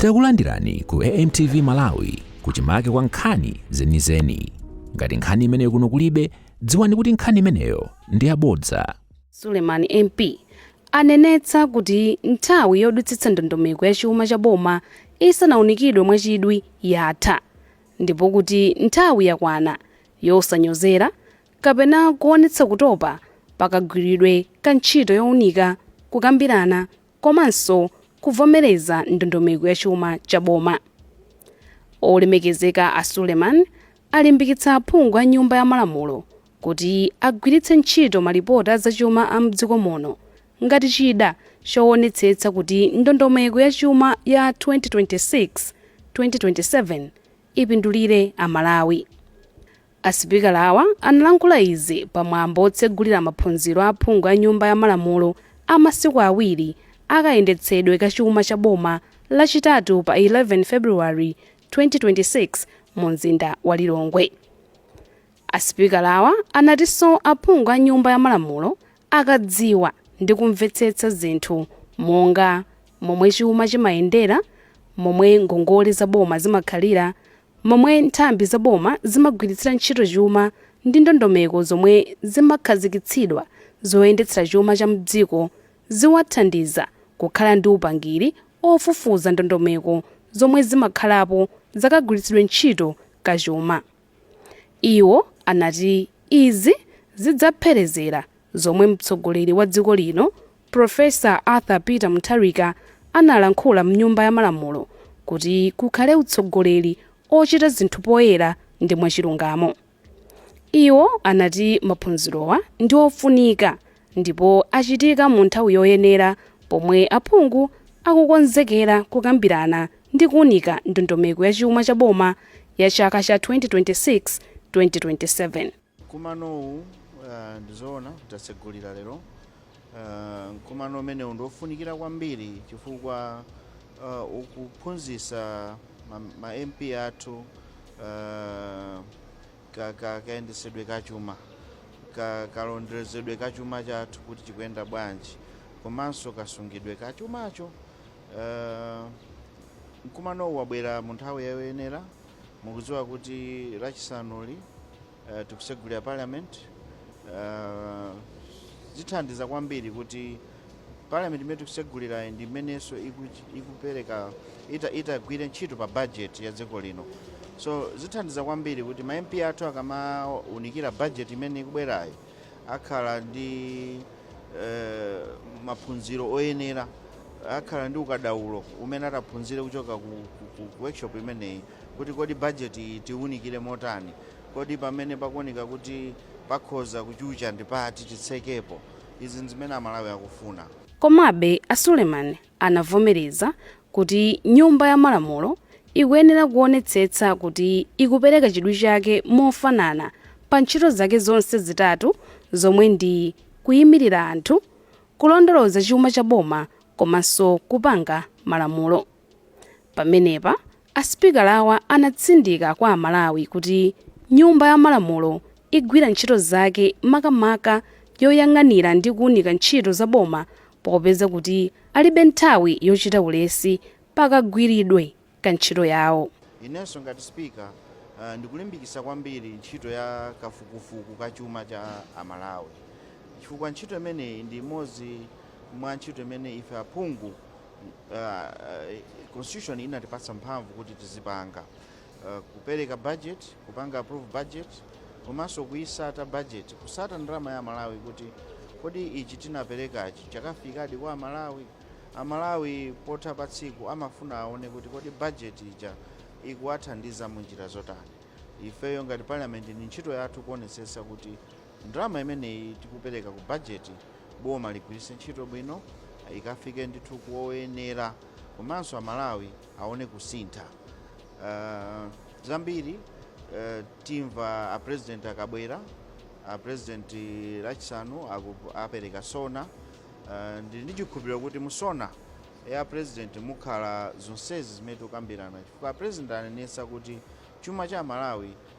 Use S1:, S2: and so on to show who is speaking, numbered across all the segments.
S1: Takulandirani ku AMTV Malawi kuchimake kwa nkhani zenizeni. Ngati nkhani imeneyo kuno kulibe, dziwani kuti nkhani imeneyo ndi yabodza. Suleman
S2: MP anenetsa kuti nthawi yodutsitsa ndondomeko ya chuma cha boma isanaunikidwe mwachidwi yatha ndipo kuti nthawi yakwana yosanyozera kapena kuonetsa kutopa pakagwiridwe ka ntchito younika, kukambirana komanso kuvomereza ndondomeko ya chuma cha boma. Olemekezeka a Suleman alimbikitsa aphungu a nyumba ya malamulo kuti agwiritse ntchito malipoti a zachuma a mdziko muno ngati chida chowonetsetsa kuti ndondomeko ya chuma ya 2026, 2027 ipindulire Amalawi. A sipikalawa analankhula izi pa mwambo otsegulira maphunziro a aphungu a nyumba ya malamulo a masiku awiri a kayendetsedwe ka chuma cha boma lachitatu pa 11 February 2026 mu mzinda wa Lilongwe. A sipikalawa anatinso aphungu a nyumba ya malamulo akadziwa ndi kumvetsetsa zinthu monga momwe chuma chimayendera, momwe ngongole za boma zimakhalira Momwe nthambi za boma zimagwiritsira ntchito chuma ndi ndondomeko zomwe zimakhazikitsidwa zoyendetsera chuma cha mdziko ziwathandiza kukhala ndi upangiri ofufuza ndondomeko zomwe zimakhalapo zakagwiritsidwe ntchito ka chuma. Iwo anati izi zidzapherezera Zomwe mtsogoleri wa dziko lino Prof. Arthur Peter Mutharika analankhula mnyumba ya malamulo kuti kukhale utsogoleri ochita zinthu poyera ndi mwachilungamo. Iwo anati maphunzirowa ndi ofunika ndipo achitika mu nthawi yoyenera pomwe aphungu akukonzekera kukambirana ndi kuunika ndondomeko ya chuma cha boma ya chaka cha 2026, 2027. Nkumanowu
S3: ndizoona tatsegulira lero nkumano umenewu ndi wofunikira kwambiri chifukwa uh, ukuphunzitsa ma, ma MP athu uh, ka, ka, kayendetsedwe ka chuma ka, kalonderezedwe ka chuma chathu kuti chikuyenda bwanji komanso kasungidwe ka chumacho uh, nkumanowu wabwera mu nthawi yoyenera mukudziwa kuti lachisanuli uh, tikusegulira parliament uh, zithandiza kwambiri kuti parliament imene tikusegulirayi ndi imenenso iku- ikupereka ita- itagwire ntchito pa budget ya dziko lino so zithandiza kwambiri kuti ma mp athu akamaunikira budget imene ikubwerayi akhala ndi eh, maphunziro oyenera akhala ndi ukadaulo umene ataphunzire kuchoka ku, ku, ku, ku workshop imeneyi kuti kodi bajeti iyi tiwunikire motani kodi pamene pakuoneka kuti pakhoza kuchucha ndi pati titsekepo izi ndi zimene Amalawi akufuna Komabe, a
S2: Suleiman anavomereza kuti Nyumba ya Malamulo ikuyenera kuonetsetsa kuti ikupereka chidwi chake mofanana pa ntchito zake zonse zitatu zomwe ndi kuimirira anthu, kulondoloza chuma cha boma komanso kupanga malamulo. Pamenepa A Sipikalawa anatsindika kwa aMalawi kuti Nyumba ya Malamulo igwira ntchito zake makamaka yoyang'anira ndi kuunika ntchito za boma popeza kuti alibe nthawi yochita ulesi pa kagwiridwe ka ntchito yawo. Inenso ngati
S3: Sipika ndikulimbikitsa kwambiri ntchito ya kafukufuku ka chuma cha aMalawi chifukwa ntchito imeneyi ndi imodzi mwa ntchito imene ife aphungu uh, uh, constitution inatipatsa mphamvu kuti tizipanga uh, kupereka budget kupanga approve budget komanso kuyisata budget kusata ndalama ya Amalawi kuti kodi ichi tinaperekachi chakafikadi kwa amalawi amalawi potha pa tsiku amafuna aone kuti kodi budget ija ikuwathandiza mu njira zotani ifeyo ngati parliament ni ntchito yathu kuonetsetsa kuti Ndalama imeneyi tikupereka ku bajeti, boma ligwiritse ntchito bwino, ikafike ndithu kwa oyenera komanso Amalawi aone kusintha. Zambiri timva a President akabwera, a President Lachisanu apereka SONA, ndili ndi chikhulupiriro kuti mu SONA ya a President mukhala zonsezi zimene tikukambirana chifukwa a President anenetsa kuti chuma cha Amalawi,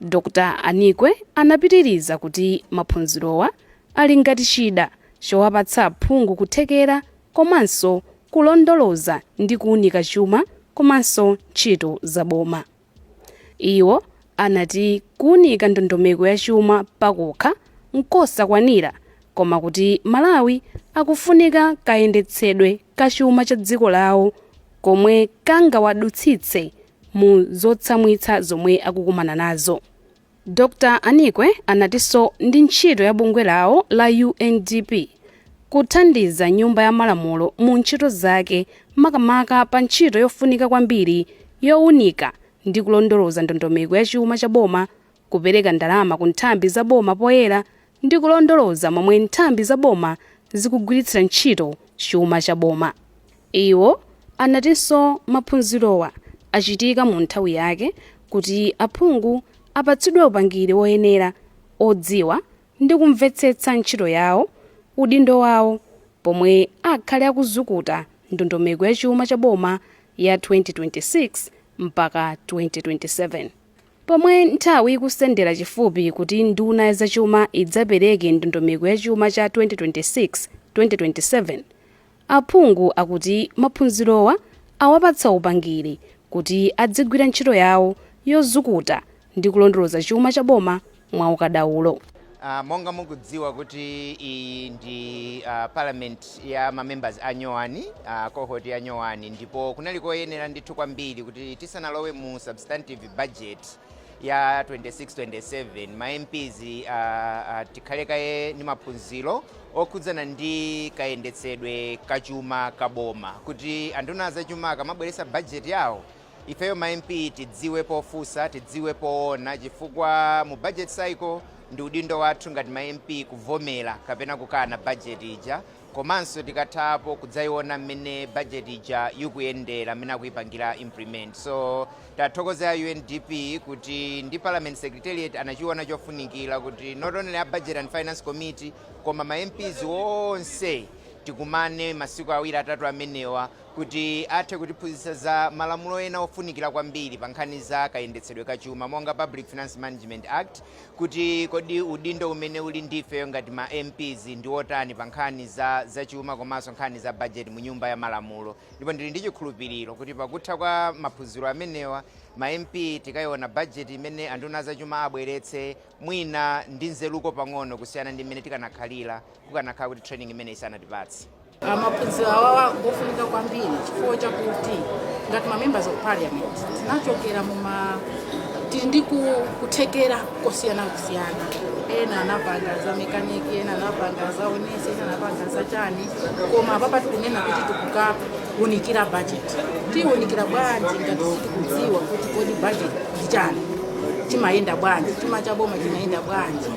S2: Dr. Anikwe anapitiriza kuti maphunzirowa ali ngati chida chowapatsa aphungu kuthekera komanso kulondoloza ndi kuunika chuma komanso ntchito za boma. Iwo anati kuunika ndondomeko ya chuma pakokha nkosakwanira koma kuti Malawi akufunika kayendetsedwe ka chuma cha dziko lawo komwe kangawadutsitse mu zotsamwitsa zomwe akukumana nazo. Dr Anikwe anatinso ndi ntchito ya bungwe lawo la UNDP kuthandiza nyumba ya malamulo mu ntchito zake makamaka pa ntchito yofunika kwambiri yowunika ndi kulondoloza ndondomeko ya chuma cha boma, kupereka ndalama ku nthambi za boma poyera ndi kulondoloza momwe nthambi za boma zikugwiritsira ntchito chuma cha boma. Iwo anatinso maphunzirowa achitika mu nthawi yake kuti aphungu apatsidwe upangiri woyenera odziwa ndi kumvetsetsa ntchito yawo, udindo wawo pomwe akhale akuzukuta ndondomeko ya chuma cha boma ya 2026 mpaka 2027. Pomwe nthawi ikusendera chifupi kuti nduna ya zachuma idzapereke ndondomeko ya chuma cha 2026, 2027, aphungu akuti maphunzirowa awapatsa upangiri kuti adzigwira ntchito yawo yozukuta ndi kulondoloza chuma cha boma mwa ukadaulo. Uh,
S4: monga mukudziwa kuti iyi ndi uh, parliament ya mamembers a nyowani uh, cohort ya nyowani ndipo kunali koyenera ndithu kwambiri kuti tisanalowe mu substantive budget ya 26-27 ma mps uh, uh, tikhale kaye ndi maphunziro okhudzana ndi kayendetsedwe kachuma kaboma kuti anduna zachuma akamabweretsa budget yawo ifeyo ma mp tidziwe pofunsa tidziwe poona chifukwa mu budget cycle ndi udindo wathu ngati ma mp kuvomera kapena kukana budget ija komanso tikathapo kudzaiona mmene budget ija ikuyendera mmene akuyipangira implement so tathokoze a undp kuti ndi parliament secretariat anachiona chofunikira kuti not only a budget and finance committee koma ma mps onse tikumane masiku awiri atatu amenewa kuti athe kutiphunzitsa za malamulo ena ofunikira kwambiri pa nkhani za kayendetsedwe ka chuma monga Public Finance Management Act, kuti kodi udindo umene uli ndi ifeyo ngati ma MPs ndi wotani pa nkhani za zachuma komanso nkhani za bajeti mu Nyumba ya Malamulo. Ndipo ndili ndi chikhulupiriro kuti pakutha kwa maphunziro amenewa, ma MP tikayiona bajeti imene anduna a zachuma abweretse Mwina ndi nzeruko pang'ono kusiyana ndi mmene tikanakhalira kukanakhala kuti training imeneyi isanatipatse. Uh, maphunziro
S5: awawa ngofunika kwambiri chifukwa chakuti ngati ma members of parliament tinachokera muma tili ndi ku- kuthekera kosiyanasiyana ena anapanga za mekaniki ena anapanga za unesi ena anapanga za chani koma apapa tikunena kuti tikuka kuunikira budget tiunikira bwanji ngati sitikudziwa kuti kodi budget ndichani chimayenda bwanji chuma cha boma chimayenda bwanji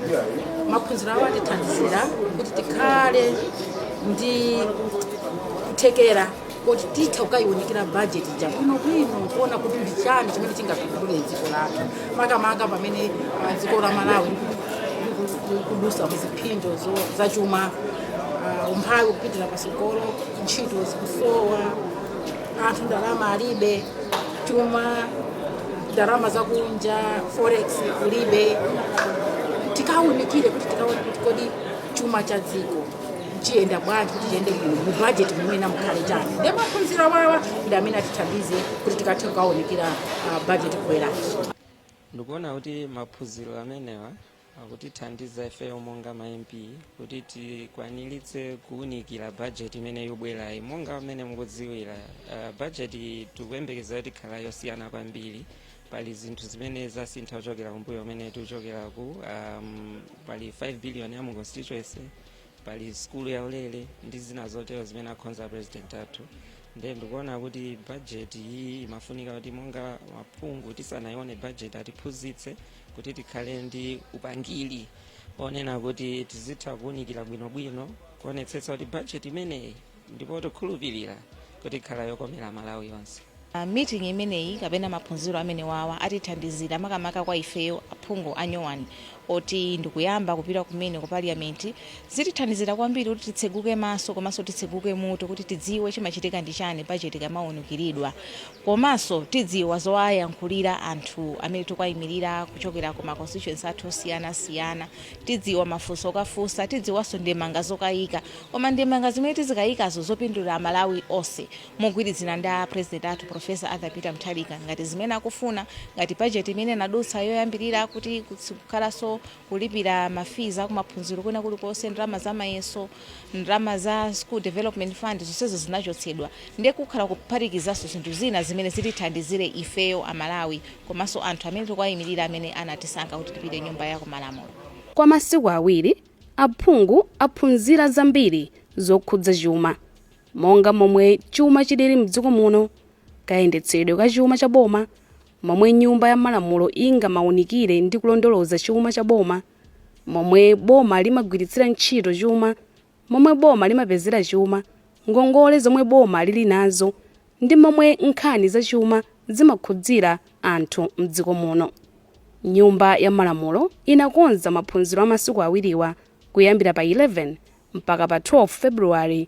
S5: maphunziro awo atithandizira kuti tikhale ndi kuthekera kuti titha kukayiunikira budget ija bwinobwino kuona kuti ndi chani chimene chingapindule dziko lathu makamaka pamene ah, dziko la malawi likudutsa muziphinjo zo- za chuma ah, umphawi kupitira pa tsogolo ntchito zikusowa anthu ndalama alibe chuma ndalama zakunja forex kulibe tikawunikire kuti tikaone kuti kodi chuma cha dziko chiyenda bwanji kuti chiyende bwino mu budget mumene mukhale chani ndi maphunziro awawa ndi amene atithandize kuti tikathe kukawonekera ah, budget ikubwerayi ndikuona
S6: kuti maphunziro amenewa akutithandiza ifeyo monga ma mp kuti tikwanilitse kuwunikira bajeti imene yobwerayi monga amene mukudziwira uh, bajeti tikuyembekeza kuti ikhala yosiyana kwambiri pali zinthu zimene zasintha kuchokera kumbuyo kumene tikuchokeraku um, pali 5 billion ya mu constituency pali skulu ya ulere ndi zina zotero zimene akhonza president athu ndiye ndikuona kuti bajeti iyi imafunika kuti monga maphungu tisanayione bajeti atiphunzitse kuti tikhale ndi upangiri onena kuti tizitha kuwunikira bwinobwino kuonetsetsa kuti bajeti imeneyi ndipo tikhulupirira kuti ikhala yokomera malawi yonse Uh,
S7: meeting imeneyi kapena maphunziro amene wawa atithandizira makamaka kwa ifeyo aphungu anyowani oti ndikuyamba kupita kumene ku parliament zitithandizira kwambiri kuti titseguke maso komanso titseguke mutu kuti tidziwe chimachitika ndi chani bajeti ikamawunikiridwa komanso tidziwa zowayankhulira anthu amene tikuwayimilira kuchokera ku ma constituency athu osiyana siyana, tidziwa mafunso okafunsa, tidziwanso ndemanga zokayika koma ndemanga zimene tizikayikazo zopindulira amalawi onse mogwirizana ndi a president athu professor Arthur Peter Mutharika ngati zimene akufuna, ngati budget imene inadutsa yoyambilira kuti sikukhalaso kulipira ma fees akumaphunziro kwina kulikonse ndalama za mayeso ndalama za school development fund zonsezo zinachotsedwa ndiye kukhala kuphatikizanso zinthu zina zimene zitithandizire ifeyo amalawi komanso anthu amene tikuwayimirira amene anatisankha kuti tipite nyumba ya kumalamulo Kwa masiku
S2: awiri, aphungu aphunzira zambiri zokhudza chuma, monga momwe chuma chilili m'dziko muno, kayendetsedwe ka chuma cha boma, momwe Nyumba ya Malamulo ingamawunikire ndi kulondoloza chuma cha boma, momwe boma limagwiritsira ntchito chuma, momwe boma limapezera chuma, ngongole zomwe boma lili nazo, ndi momwe nkhani za chuma zimakhudzira anthu m'dziko muno. Nyumba ya Malamulo inakonza maphunziro a masiku awiriwa kuyambira pa 11 mpaka pa 12 February.